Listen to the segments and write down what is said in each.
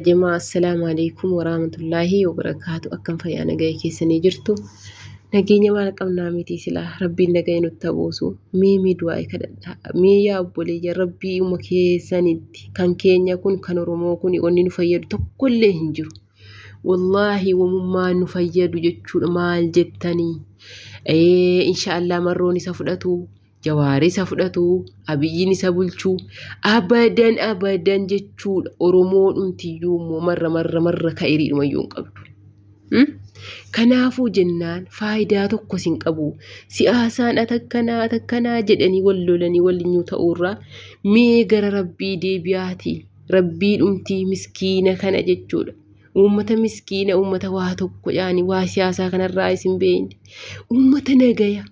Jamaa assalaamu alaikum waraamatullaahi wabarakaatu akkam fayyaa nagaya keessanii jirtu nageenya maal qabnaa miti silaa rabbiin nagaya nutti habuusu mee mee du'aa'i kadhadhaa mee yaa obboleeyya rabbii uma keessanitti kan keenya kun kan oromoo kun wanni nu fayyadu tokkollee hin jiru wallaahi wamummaa nu fayyadu jechuudha maal jettanii inshaallah marroon isa fudhatu Jawaar isa fudhatu, Abiyyiin isa bulchu, abadan abadan jechuudha. Oromoo dhumtiyyuu immoo marra marra marra ka'iriidhuma iyyuu hin qabdu. Hmm? Kanaafuu jennaan faayidaa tokko sin qabu. Siyaasaan atakkanaa atakkanaa jedhanii wal lolanii walinyuu ta'uurraa mee gara rabbii deebi'aati. Rabbii dhumtii miskiina kana jechuudha. Uummata miskiina, uummata waa tokko yaani waa siyaasaa kanarraa isin beeyne. Uummata nagaya.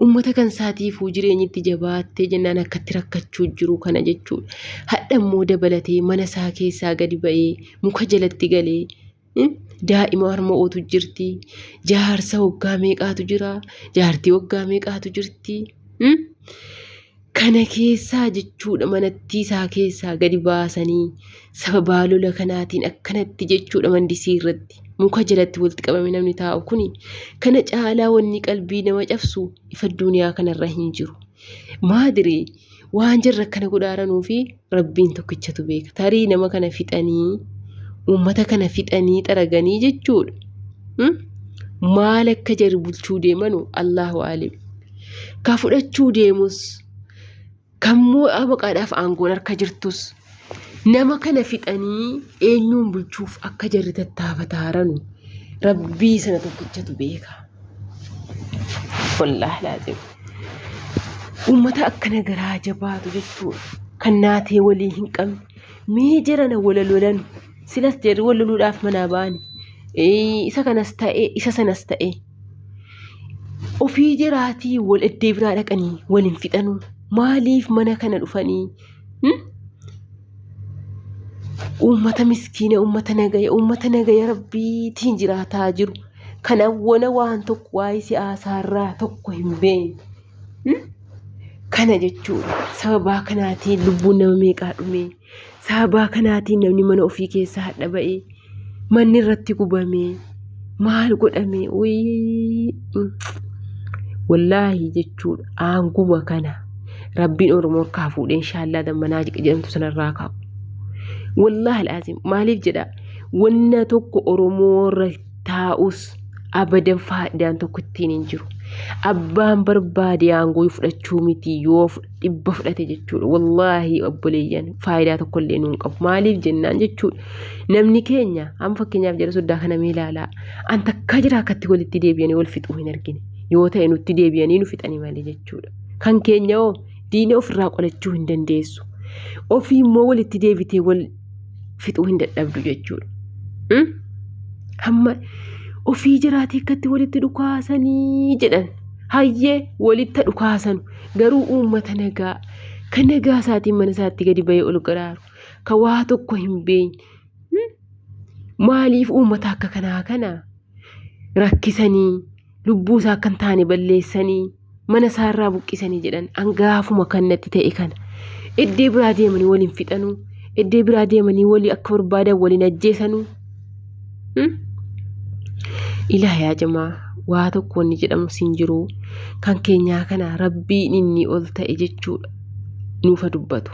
Uummata kan isaatiifuu jireenyi itti jabaattee jennaan akka itti rakkachuu jiru kana jechuudha. Hadha immoo dabalatee mana isaa keessaa gadi ba'ee muka jalatti galee daa'ima harma'ootu jirti. Jaarsa waggaa meeqaatu jira. Jaartii waggaa meeqaatu jirti. Kana keessaa jechuudha manattii isaa keessaa gadi baasanii sababaa lola kanaatiin akkanatti jechuudha mandisii irratti muka jalatti walitti qabame namni taa'u kuni kana caalaa wanni qalbii nama cabsu ifa duniyaa kanarra hin jiru. Maadire waan jarra akkana godhaaranuu fi Rabbiin tokkichatu beeka. Tarii nama kana fixanii uummata kana fixanii xaraganii jechuudha. Hmm? Maal akka jari bulchuu deemanu Allahu aalim. Ka fudhachuu deemus kan moo'aa maqaadhaaf aangoon harka jirtus nama kana fixanii eenyuun bulchuuf akka jarri tattaafataa jiranu rabbii sana tokkichatu beeka. Wallaahi laaziim. Uummata akkana garaa jabaatu jechuudha. Kan naatee walii hin qabne. Mee jarana wala lolan. Silas jarri wal loluudhaaf manaa ba'ani. Ee, Isa kanas ta'e, isa sanas ta'e. Ofii jaraatii wal eddee biraa dhaqanii wal hin fixanuu. Maaliif mana kana dhufanii Uummata miskiina, uummata nagaya, uummata nagaya rabbiitiin jiraataa jiru. Kan awwala waan tokko waa'ee siyaasaarraa tokko hin beekne. Kana jechuudha. Sababaa kanaatiin lubbuun nama meeqaa dhumee? Sababaa kanaatiin namni mana ofii keessaa hadha ba'ee? manni irratti gubamee maal godhamee wallaahi jechuudha aanguma kana rabbiin oromoo kaa fuudhe inshaallah dammanaa jedhamtu sanarraa kaa'u. Wallaahi alaaziim maaliif jedha wanna tokko oromoo irra taa'us abadan faayidaan tokko ittiin hin jiru. Abbaan barbaade aangoo fudhachuu miti yoo fudhate. dhibba fudhate jechuudha wallaahi obboleeyyan faayidaa tokko illee nuun qabu maaliif jennaan jechuudha namni keenya amma fakkeenyaaf jara soddaa kana mee ilaalaa an takkaa jira akkatti walitti deebi'anii wal fixuu hin argine yoo ta'e nutti deebi'anii nu fixanii malee jechuudha kan keenya hoo diina ofirraa qolachuu hin dandeessu ofii immoo walitti deebitee wal fixuu hin dadhabdu jechuudha. Hmm? Hamma ofii jiraatee akkatti walitti dhukaasanii jedhan hayyee walitti dhukaasanu Garuu uummata nagaa kan nagaa isaatiin mana isaatti gadi ba'ee ol garaaru kan waa tokko hin beekne maaliif uummata akka kanaa kana rakkisanii lubbuu isaa akka hin taane balleessanii mana isaa irraa buqqisanii jedhan hangaafuma kan natti ta'e kana iddee biraa deemanii waliin fixanuu iddee biraa deemanii walii akka barbaadan waliin ajjeesanuu Ilaah yaa jamaa waa tokko wanni jedhamu siin jiru kan keenyaa kana rabbiin inni ol ta'e jechuudha nuufa dubbatu.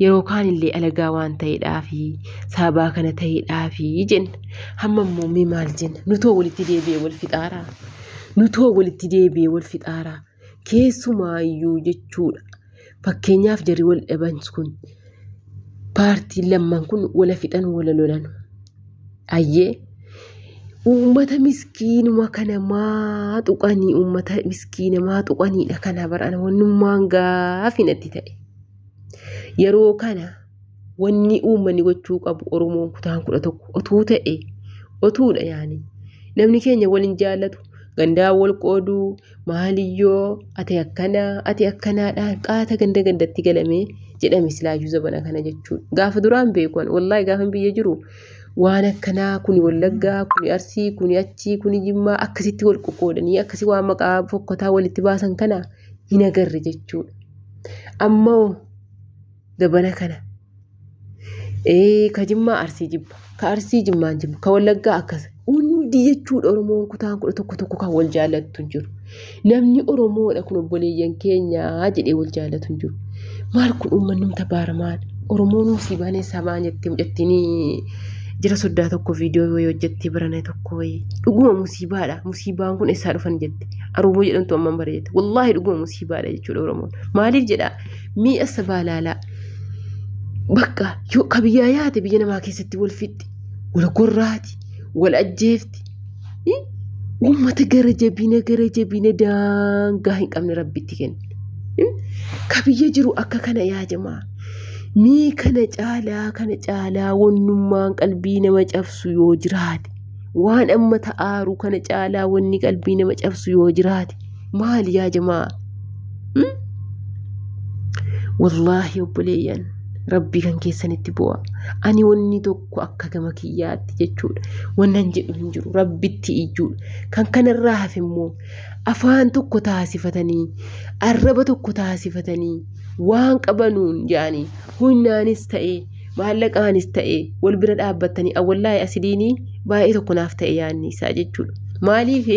Yeroo kaan illee alagaa waan ta'eedhaafi sababaa kana ta'eedhaafi jenna. Hamma immoo mee maal jenna? Nutoo walitti deebi'ee wal fixaaraa? Nutoo walitti deebi'ee wal fixaaraa? Keessumaayyuu jechuudha. Fakkeenyaaf jarri wal dhaban kun paartiin lamman kun wala fixan wala lolan. Ayyee uummata miskiinuma kana maa tuqanii uummata miskiina maa tuqaniidha kana barana wannummaan gaafi natti ta'e. Yeroo kana wanni uummanni gochuu qabu Oromoon kutaan kudha tokko otuu ta'e otuudha yaani namni keenya waliin jaallatu gandaa wal qooduu maaliyyoo ati akkanaa ati akkanaadhaan qaata ganda gandatti galamee jedhame silaayyuu zabana kana jechuun gaafa duraan beekuan wallaahi gaafa biyya jiru waan akkanaa kuni wallaggaa kuni arsii kuni achii kuni jimmaa akkasitti wal qoqqoodanii akkasi waan maqaa fokkotaa walitti baasan kana hin agarre jechuudha ammoo Dabana kana. Ee ka jimmaa arsii jibba ka arsii jimmaan jibba ka wallaggaa akkas hundi jechuudha oromoon kutaan kudha tokko tokko kan wal jaallattu hin jiru namni oromoodha kun obboleeyyan keenyaa jedhee wal jaallatu hin jiru maal kun ummannumta baaramaan oromoon musii baanee sabaa jettee mucattiin jira soddaa tokko viidiyoo wayii hojjettee barana tokko wayii dhuguma musiibaadha musiibaan kun eessaa dhufan jette aruuboo jedhamtu amman bara jette wallaahi dhuguma musiibaadha jechuudha oromoon maaliif jedhaa Mi'a sabaalaalaa bakka yoo ka biyyaa yaate biyya namaa keessatti wal fixxi, wal gorraati, wal ajjeefti. Uummata gara jabina gara jabina daangaa hin qabne rabbitti kenne. Ka biyya jiru akka kana yaa jamaa. Mii kana caalaa kana caalaa wannummaan qalbii nama cabsu yoo jiraate. Waan amma ta'aaru kana caalaa wanni qalbii nama cabsu yoo jiraate. maali yaa jamaa hmm? wallaahi obboleeyyan rabbii kan keessanitti bu'a ani wanni tokko akka gama kiyyaatti jechuudha wannan jedhu hin jiru rabbitti iyyuudha kan kanarraa hafe immoo afaan tokko taasifatanii arraba tokko taasifatanii waan qabanuun yaani hunnaanis ta'ee maallaqaanis ta'e wal bira dhaabbattanii awwallaa'e asidiinii baay'ee tokko naaf ta'e yaadni isaa jechuudha. Maaliif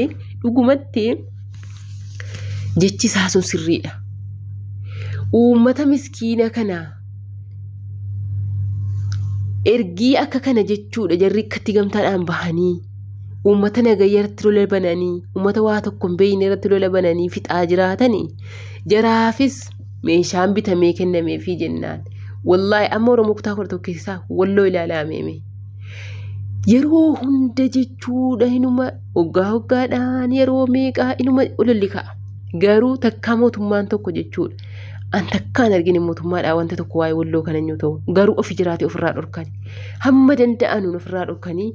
dhugumatti jechi isaa sun sirriidha. Uummata miskiina kana ergii akka kana jechuudha jarri akkatti gamtaadhaan bahanii uummata nagayya irratti lola bananii uummata waa tokko hin beekne irratti lola bananii fixaa jiraatanii jaraafis meeshaan bitamee kennameefii jennaan wallaahi amma oromoo kutaa kudha tokko keessaa walloo ilaalaa meeme yeroo hunda jechuudha inuma hoggaa hoggaadhaan yeroo meeqaa inuma ololli ka'a garuu takkaa mootummaan tokko jechuudha an takkaan argine mootummaadhaa wanta tokko waa'ee walloo kana yoo ta'u garuu ofi jiraate ofirraa dhorkani hamma danda'anuun ofirraa dhorkanii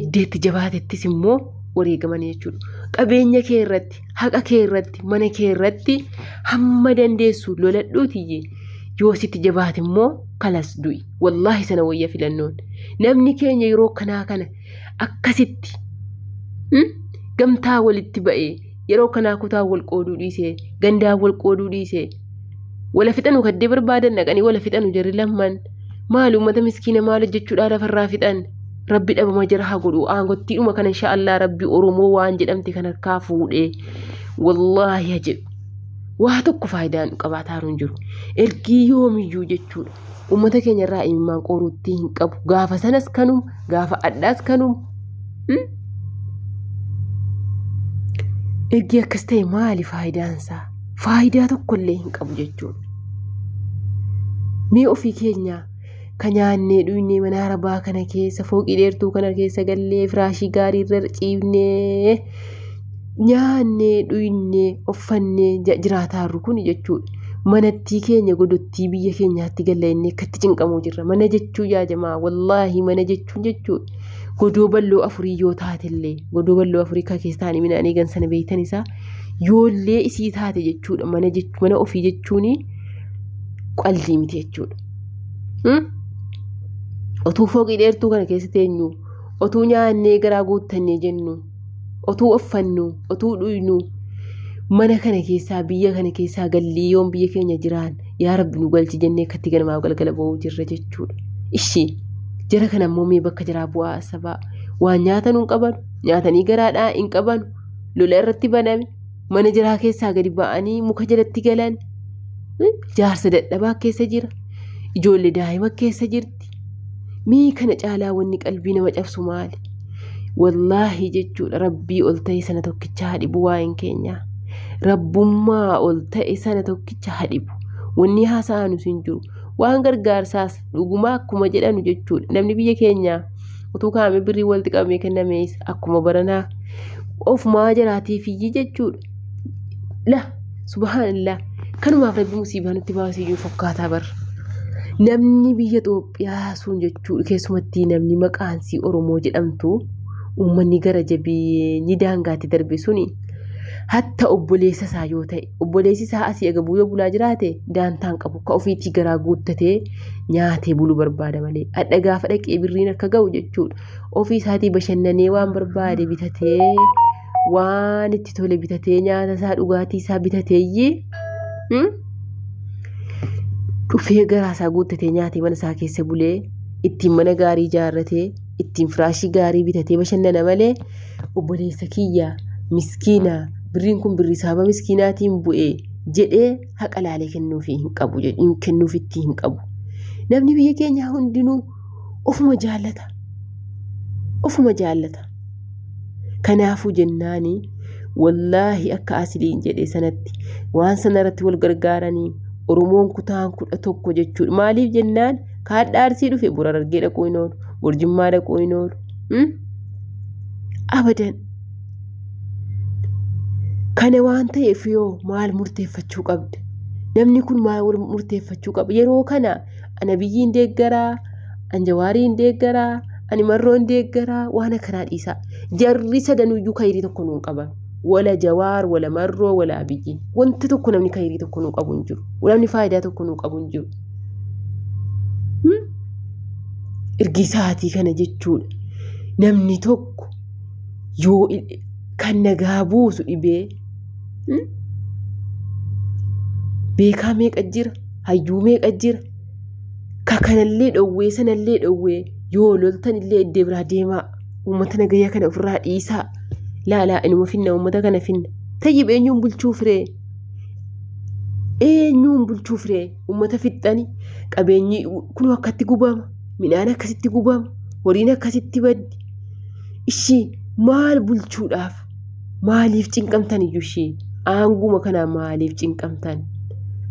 iddeetti jabaatettis immoo wareegamanii jechuudha qabeenya kee irratti haqa kee irratti mana kee irratti hamma dandeessu loladhuutiyye yoo sitti jabaate immoo kalas du'i wallaahi sana wayya filannoon namni keenya yeroo kanaa kana akkasitti hmm, gamtaa walitti ba'ee yeroo kanaa kutaa wal qooduu dhiisee gandaa wal qooduu dhiisee Wala fixanu kaddee barbaadan dhaqanii wala fixanu jarri lamman. Maali uummata miskiina maal hojjechuudhaa lafarraa fixan. Rabbi dhabama jara haa godhu aangottiidhuma kana insha Allah rabbi Oromoo waan jedhamte kan harkaa fuudhee wallaahi haa jedhu. Waa tokko faayidaan qabaataaru hin jiru. Ergii yoomiyyuu jechuudha. uummata keenya irraa imimmaan qoruutti hin qabu. Gaafa sanas kanum, gaafa addaas kanum. Hmm? Ergi akkas ta'e maali faayidaan isaa? Faayidaa tokko illee hin qabu jechuudha. Mee ofii keenya ka nyaannee dhugnee mana arabaa kana keessa fooqii dheertuu kana keessa gallee firaashii gaarii irra ciifnee nyaannee dhugnee uffannee jiraataarru kun jechuudha. Manattii keenya godottii biyya keenyaatti galla inni akkatti cinqamuu jirra. Mana jechuu yaa jamaa wallaahi mana jechuun jechuudha. Godoo balloo afurii yoo taatellee godoo balloo afurii kan keessa taa'anii midhaan eegan sana beektan isaa yoollee isii taate jechuudha. Mana jechuu mana ofii jechuun qaldii miti jechuudha. Hmm? Otuu fooqii dheertuu kana keessa teenyu otuu nyaannee garaa guuttannee jennu. otuu offannu otuu dhuynu mana kana keessaa biyya kana keessaa gallii yoon biyya keenya jiraan yaa rabbi nu galchi jennee akkatti ganamaaf galgala ba'uu jirra jechuudha. Ishii jara kana immoo mee bakka jiraa bu'aa asabaa waan nyaatan hin qaban nyaatanii garaadhaa hin qaban lola irratti baname mana jiraa keessaa gadi ba'anii muka jalatti galan jaarsa dadhabaa keessa jira ijoollee daa'ima keessa jirti. irratti mee kana caalaa wanni qalbii nama cabsu maali wallaahi jechuudha rabbii ol ta'e sana tokkicha haa dhibu waa'een keenya rabbummaa ol ta'e sana tokkicha haa dhibu wanni haasa'anu sin jiru waan gargaarsaas dhugumaa akkuma jedhanu jechuudha namni biyya keenyaa utuu kaa'ame birrii walitti qabamee kennamees akkuma baranaa ofumaa jiraatiifiyyi jechuudha la subhaanallah kanumaaf rabbi musiibaa nutti baasee jiru fakkaataa bar namni biyya Itoophiyaa sun jechuu keessumatti namni maqaan sii Oromoo jedhamtu uummanni gara jabeenyi daangaatti darbe suni hatta obboleessa isaa yoo ta'e obboleessi isaa asii agabuu yoo bulaa jiraate daantaan qabu ka ofiitii garaa guuttatee nyaatee bulu barbaada malee adha gaafa dhaqee birriin akka ga'u jechuudha ofii isaatii bashannanee waan barbaade bitatee waan itti tole bitatee nyaata isaa dhugaatii isaa bitateeyyii hmm? dhufee garaa isaa guuttatee nyaatee mana isaa keessa bulee ittiin mana gaarii ijaarratee ittiin firaashii gaarii bitatee bashannana malee obboleessa kiyya miskiina birriin kun birrii saaba miskiinaatiin bu'ee jedhee haqa laalee kennuufii hin qabu hin kennuufitti hin qabu namni biyya keenyaa hundinuu ofuma jaallata ofuma jaallata kanaafuu jennaani wallaahi akka asiliin jedhe sanatti waan sana irratti wal gargaaranii oromoon kutaan kudha tokko jechuudha maaliif jennaan kaadhaa arsii dhufe bor harargee dhaquu hin oolu bor jimmaa dhaquu hin oolu hmm? abadan kana waan ta'eef yoo maal murteeffachuu qabda namni kun maal murteeffachuu qaba yeroo kana ana biyyiin deeggaraa an jawaariin deeggaraa ani marroon deeggaraa waan akkanaa dhiisaa jarri sadanuyyuu kayirii tokko nuun qaban wala jawaar wala marroo wala abiyyi wanta tokko namni kayirii tokko nuu qabu hin jiru namni faayidaa tokko nuu qabu hin jiru ergisaatii kana jechuudha namni tokko yoo kan nagaa buusu dhibee beekaa meeqa jira hayyuu meeqa jira ka kanallee dhowwee sanallee dhowwee yoo loltanillee iddee biraa deemaa uummata nagayyaa kana ofirraa dhiisaa laalaa inuma finna uummata kana finna tayyib eenyuun bulchuu firee eenyuun bulchuu firee uummata fixxani qabeenyi kun akkatti gubama midhaan akkasitti gubama horiin akkasitti baddi ishii maal bulchuudhaaf Maaliif cinqamtan iyyuu ishii aanguma kanaa maaliif cinqamtan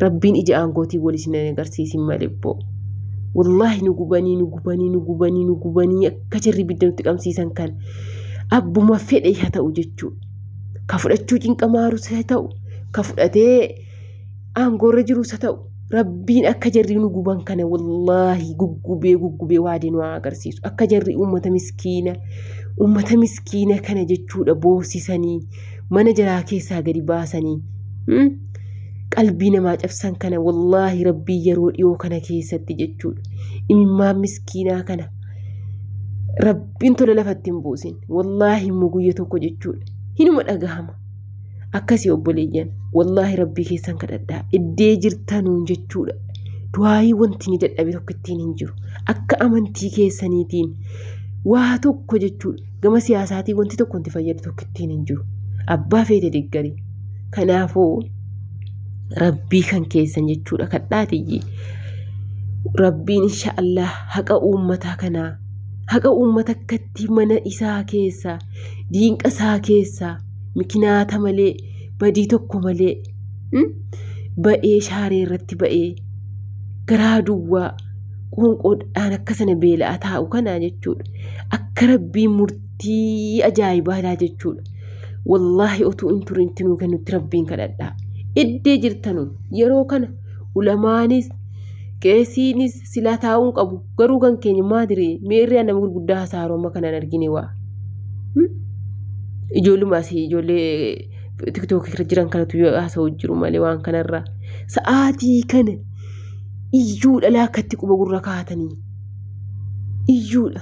rabbiin ija aangootiin wal isin hin agarsiisin malee boo. Wallaahi nu gubanii nu gubanii nu gubanii nu gubanii akka jirri ibidda nutti qabsiisan kan abbuma fedhe haa ta'u jechuudha. Ka fudhachuu cinqamaaru haa ta'u ka fudhatee aangoorra jirus haa ta'u rabbiin akka jarri nu guban kana wallaahi guggubee guggubee waadee nu haa agarsiisu akka jarri uummata miskiina uummata miskiina kana jechuudha boorsisanii mana jaraa keessaa gadi baasanii hmm? qalbii namaa cabsan kana wallaahi rabbii yeroo dhiyoo kana keessatti jechuudha imimmaan miskiinaa kana rabbiin tola lafatti hin buusin wallaahi immoo guyya tokko jechuudha hinuma dhagahama akkasii obboleeyyan wallaahi rabbii keessan kadhadhaa iddee jirtanuun jechuudha du'aayii wanti ni dadhabe tokko ittiin hin jiru akka amantii keessaniitiin waa tokko jechuudha gama siyaasaatiin wanti tokko wanti fayyadu tokko ittiin hin jiru abbaa feete deeggarii kanaafuu rabbii kan keessan jechuudha kadhaatiyyi rabbiin insha Allah haqa uummataa kanaa haqa uummata akka Ati mana isaa keessa, diinqa isaa keessa, mikinaata malee, badii tokko malee, hmm? ba'ee shaaree irratti ba'ee, garaa duwwaa, qoonqoodhaan akka sana beela'a taa'u kanaa jechuudha. Akka rabbiin murtii ajaa'ibaa laa jechuudha. Wallaahi otuu hin turin itti nuu kennutti rabbiin kadhadhaa. Iddee jirtanu yeroo kana ulamaanis, qeesiinis, silaa taa'uun qabu garuu kan keenya maa diree mee irraa nama gurguddaa hasaaroo amma kanaan argine waa ijoolluma asii ijoollee tiktookii irra jiran kanatu yoo haasa'u jiru malee waan kanarraa sa'aatii kana iyyuu dhalaa akkatti quba gurra kaatanii iyyuudha.